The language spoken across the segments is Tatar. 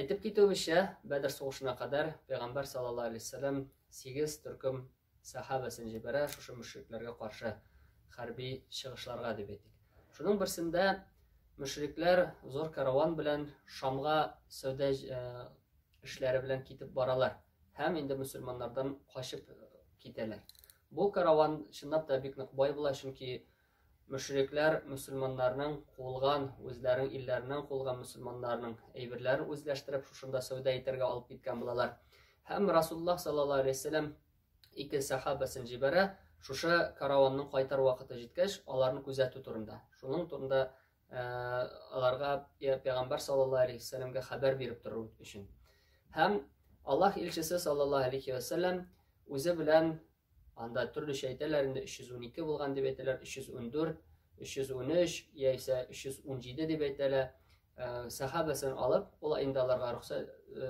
Әйтеп китүебезчә, Бәдер сугышына кадәр Пәйгамбәр саллаллаһу алейһи ва сәлләм сигез төркем сәхабәсен җибәрә шушы мөшрикләргә каршы хәрби чыгышларга дип әйтик. Шуның берсендә мөшрикләр зур караван белән Шамга сәүдә э, эшләре белән китеп баралар һәм инде мөселманнардан качып э, китәләр. Бу караван чынлап та бик нык бай була, чөнки Мөшрикләр мөселманнарның кулган, үзләренең илләреннән кулган мөселманнарның әйберләрен үзләштереп, шушында сәүдә итәргә алып киткән булалар. Һәм Расуллаһ саллаллаһу алейһи вәсәләм ике сәхабәсен җибәрә, шушы караванның кайтар вакыты җиткәч, аларны күзәтү турында. Шуның турында э, аларга пәйгамбәр саллаллаһу алейһи вәсәләмгә хәбәр биреп тору өчен. Һәм Аллаһ илчесе саллаллаһу алейһи вәсәләм үзе белән Анда төрлечә әйтәләр инде, 312 булган дип әйтәләр, 314, 313 яисә 317 дип әйтәләр. Э, сәхабәсен алып, ул инде аларга рөхсә э,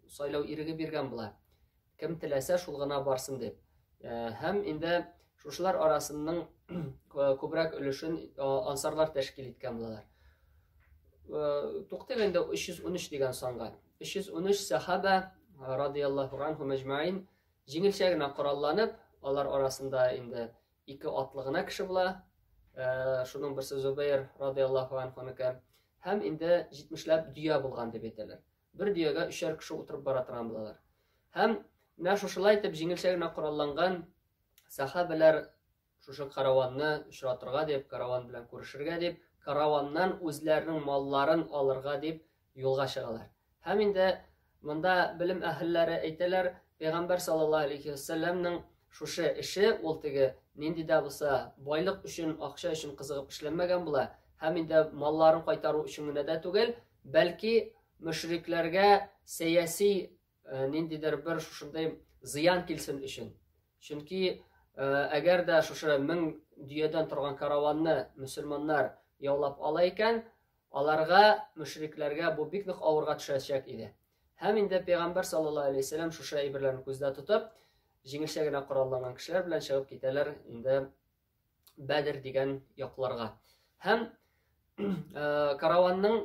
сайлау иреге биргән була. Кем теләсә, шул гына барсын дип. Э, һәм инде шушылар арасының күбрәк өлешен ансарлар тәшкил иткән булалар. Туктыйк инде 313 дигән санга. 313 сәхабә радияллаһу анһу мәҗмәин Җиңелчә генә коралланып, алар арасында инде ике атлы гына кеше була. Э, шуның берсе Зубейр радиаллаху анхуныкы һәм инде 70ләп дөя булган дип әйтәләр. Бер дөягә өчәр кеше утырып бара торган булалар. Һәм менә шушылай итеп җиңелчә генә коралланган сахабәләр Шушы караванны очратырга дип, караван белән күрешергә дип, караваннан үзләренең малларын алырга дип юлга чыгалар. Һәм инде монда белем әһелләре әйтәләр, пәйгамбәр саллаллаһу алейхи вәсәлләмнең шушы эше ул теге нинди дә булса байлык өчен, акча өчен кызыгып эшләнмәгән була. Һәм инде малларын кайтару өчен генә дә түгел, бәлки мөшрикләргә сәяси ниндидер бер шушындый зыян килсен өчен. Чөнки әгәр дә шушы мең дөядән торган караванны мөселманнар яулап ала икән, аларга, мөшрикләргә бу бик нык авырга төшәчәк иде. Һәм инде пәйгамбәр саллаллаһу алейһи вәсәлләм шушы әйберләрне күздә тотып, җиңелчә генә коралланган кешеләр белән чыгып китәләр инде Бәдер дигән якларга. Һәм э, караванның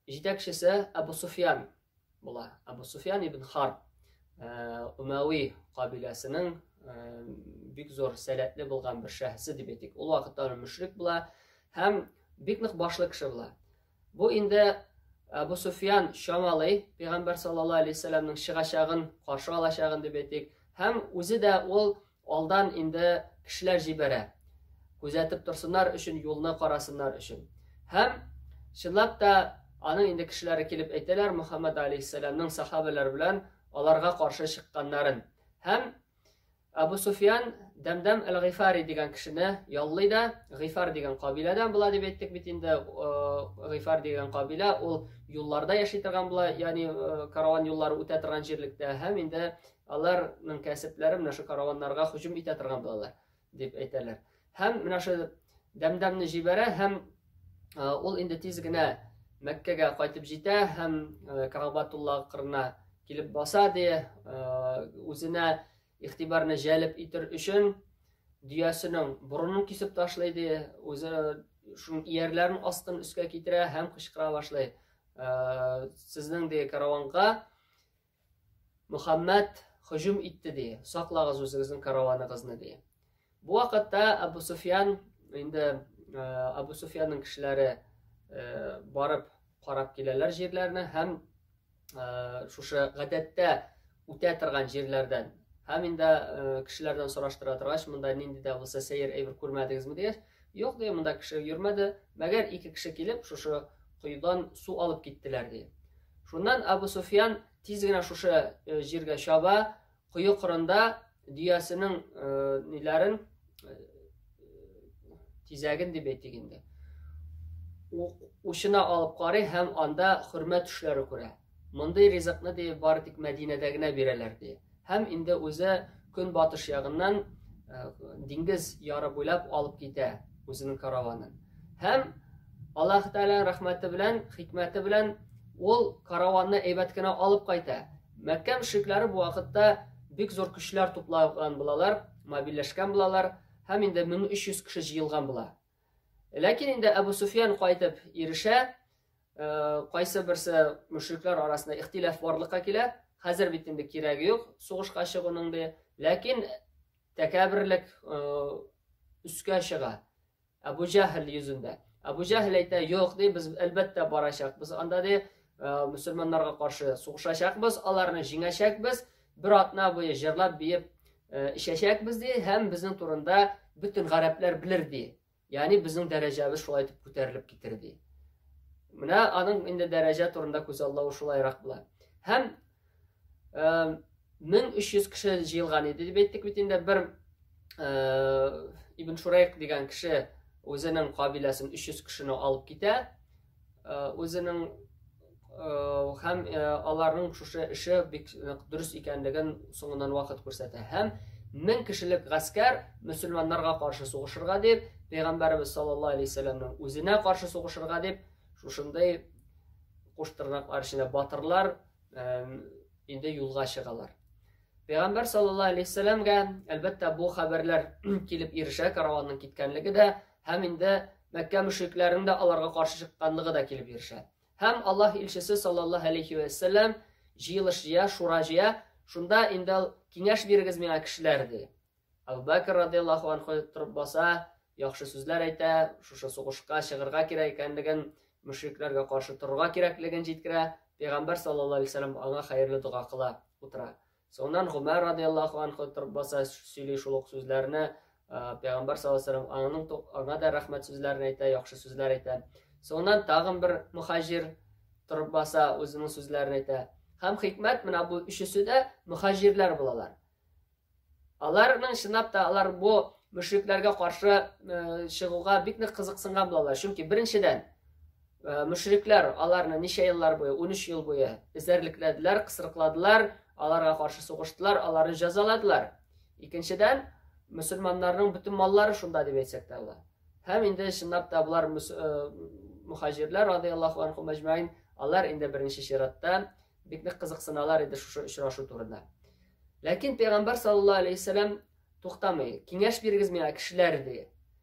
җитәкчесе Абу Суфьян була. Абу Суфьян ибн Харб э, Умәви кабиләсенең э, бик зур сәләтле булган бер шәхесе дип әйтик. Ул вакытта мөшрик була һәм бик нык башлы кеше була. Бу инде Әбу Суфьян чамалый, пәйгамбәр саллаллаһу алейһи вәсәлләмнең чыгачагын, каршы алачагын дип әйтик, һәм үзе дә ул алдан инде кешеләр җибәрә. Күзәтеп торсыннар өчен, юлны карасыннар өчен. Һәм чынлап та аның инде кешеләре килеп әйтәләр Мөхәммәд алейһиссәламның сахабәләр белән аларга каршы чыкканнарын. Һәм Абу Суфиян Дәмдәм әл-Гыйфари дигән кешене яллый да, Гыйфар дигән кабиләдән була дип әйттек бит инде. Э, Гыйфар дигән кабилә ул юлларда яши торган була, ягъни э, караван юллары үтә торган җирлектә һәм инде аларның кәсепләре менә шу караваннарга һөҗүм итә торган булалар дип әйтәләр. Һәм менә шул дәмдәмне җибәрә һәм ул инде тиз генә Мәккәгә кайтып җитә һәм Карабатулла кырына килеп баса ди, үзенә игътибарны җәлеп итер өчен дөясенең борынын кисеп ташлый ди, үзе шуның иярләрен астын өскә китерә һәм кычкыра башлый. Сезнең ди караванга Мөхәммәд һөҗүм итте, ди. Саклагыз үзегезнең караваныгызны, ди. Бу вакытта Абу Суфьян, инде Абу Суфьянның кешеләре барып карап киләләр җирләрне һәм шушы гадәттә үтә торган җирләрдән һәм инде кешеләрдән сораштыра торгач, монда нинди дә булса сәер әйбер күрмәдегезме дигәч, юк ди, монда кеше йөрмәде, мәгәр ике кеше килеп шушы коедан су алып киттеләр, ди. Шуннан Абу Суфьян тиз генә шушы җиргә чаба, кое кырында дөясенең ниләрен тизәген дип әйтик инде. Учына алып карый һәм анда хөрмә төшләре күрә. Мондый ризыкны ди бары тик Мәдинәдә генә бирәләр ди. Һәм инде үзе көнбатыш ягыннан диңгез яры буйлап алып китә үзенең караванын. Һәм Аллаһ Тәгалә рәхмәте белән, хикмәте белән ул караванны әйбәт кенә алып кайта. Мәккә мөшрикләре бу вакытта бик зур көчләр туплаган булалар, мобильләшкән булалар һәм инде 1300 кеше җыелган була. Ләкин инде Әбу Суфиян кайтып ирешә, кайсы берсе мөшрикләр арасында ихтилаф барлыкка килә, хәзер бит инде кирәге юк сугышка чыгуның ди. Ләкин тәкәбберлек өскә чыга. Әбу Җәһл йөзендә. Әбу Җәһл әйтә, "Юк, ди, без әлбәттә барачакбыз. Анда ди, мусульманнарга каршы сугышачакбыз, аларны җиңәчәкбез. бер атна буе җырлап биеп э, эчәчәкбез ди һәм безнең турында бөтен гарәпләр белер ди ягъни безнең дәрәҗәбез шулай итеп күтәрелеп китер ди менә аның инде дәрәҗә турында күзаллавы шулайрак була һәм э, мең өч йөз кеше җыелган иде дип әйттек бит инде бер э, ибн шурайк дигән кеше үзенең кабиләсен өч йөз кешене алып китә Үзенең һәм аларның шушы эше бик нык дөрес икәнлеген соңыннан вакыт күрсәтә. Һәм мең кешелек гаскәр мөселманнарга каршы сугышырга дип, пәйгамбәребез саллаллаһу алейһи вәсәлләмнең үзенә каршы сугышырга дип, шушындый куштырнаклар эченә батырлар инде юлга чыгалар. Пәйгамбәр саллаллаһу алейһи вәсәлләмгә, әлбәттә, бу хәбәрләр килеп ирешә, караванның киткәнлеге дә Һәм инде Мәккә мөшрикләренең дә аларга каршы чыкканлыгы да килеп ирешә. Һәм Аллаһ илчесе саллаллаһу алейхи ва саллям җыелыш җыя, шура җыя, шунда инде киңәш бирегез миңа кешеләр ди. Абу Бәкр радияллаһу анху торып баса, яхшы сүзләр әйтә, шушы сугышка чыгырга кирәк икәнлеген, мөшрикләргә каршы торырга кирәклеген җиткерә. Пәйгамбәр саллаллаһу алейхи ва аңа хәерле дога кыла, утыра. Соңыннан Гомәр радиаллаху анху торып баса сөйли шул ук сүзләрне, пәйгамбәр саллаллаху алейһи ва салләм аңа да рәхмәт сүзләрен әйтә, яхшы сүзләр әйтә. Соңыннан тагын бер мухаҗир торып баса, үзенең сүзләрен әйтә. Һәм хикмәт менә бу өчесе дә мухаҗирләр булалар. Аларның чынлап та алар бу мөшрикләргә каршы чыгуга бик нык кызыксынган булалар. Чөнки беренчедән Э, мөшрикләр аларны ничә еллар буе, 13 ел буе эзәрлекләделәр, кысрыкладылар, аларга каршы сугыштылар, аларны җәзаладылар. Икенчедән, мөселманнарның бөтен маллары шунда дип әйтсәк тә була. Һәм инде чынлап та болар э, мухаҗирләр радияллаху анху мәҗмәин, алар инде беренче чиратта бик нык кызыксыналар иде шушы очрашу турында. Ләкин пәйгамбер саллаллаһу алейһи вәсәлам туктамый. Киңәш бирегез миңа кешеләр ди.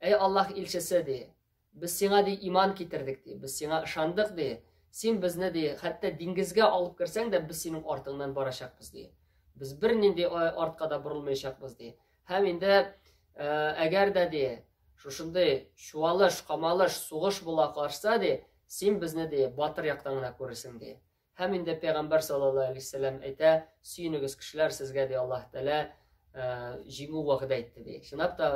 Әй Аллаһ илчесе, ди, без сиңа, ди, иман китердек, ди, без сиңа ышандык, ди, син безне, ди, хәтта диңгезгә алып керсәң дә, без синең артыңнан барачакбыз, ди. Без бернинди э, артка да борылмаячакбыз, ди. Һәм инде э, әгәр дә, ди, шушындый чуалыш, камалыш, сугыш була карса, ди, син безне, ди, батыр яктан гына күрерсең, ди. Һәм инде пәйгамбәр саллаллаһу алейһи вәсәлләм әйтә, сөенегез кешеләр, сезгә дә Аллаһ Тәгалә җиңү вәгъдә итте ди. Чынлап та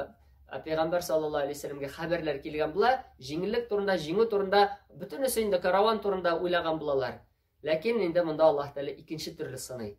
пәйгамбәр саллаллаһу алейһи вәсәлләмгә хәбәрләр килгән була, җиңеллек турында, җиңү турында, бөтенесе инде караван турында уйлаган булалар. Ләкин инде монда Аллаһ Тәгалә икенче төрле сыный.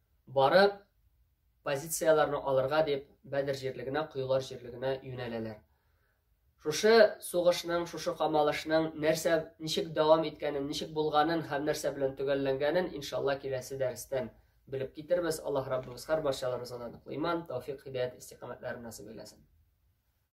Барып, позицияләрне алырга дип, Бәдер җирлегенә, коелар җирлегенә юнәләләр. Шушы сугышның, шушы камалышның нәрсә, ничек дәвам иткәнен, ничек булганын һәм нәрсә белән төгәлләнгәнен, иншалла, киләсе дәрестән белеп китербез. Аллаһ Раббыбыз һәр барчаларыбызга да ныклы иман, тәүфик, һидаят, истикамәтләр насыйп әйләсен.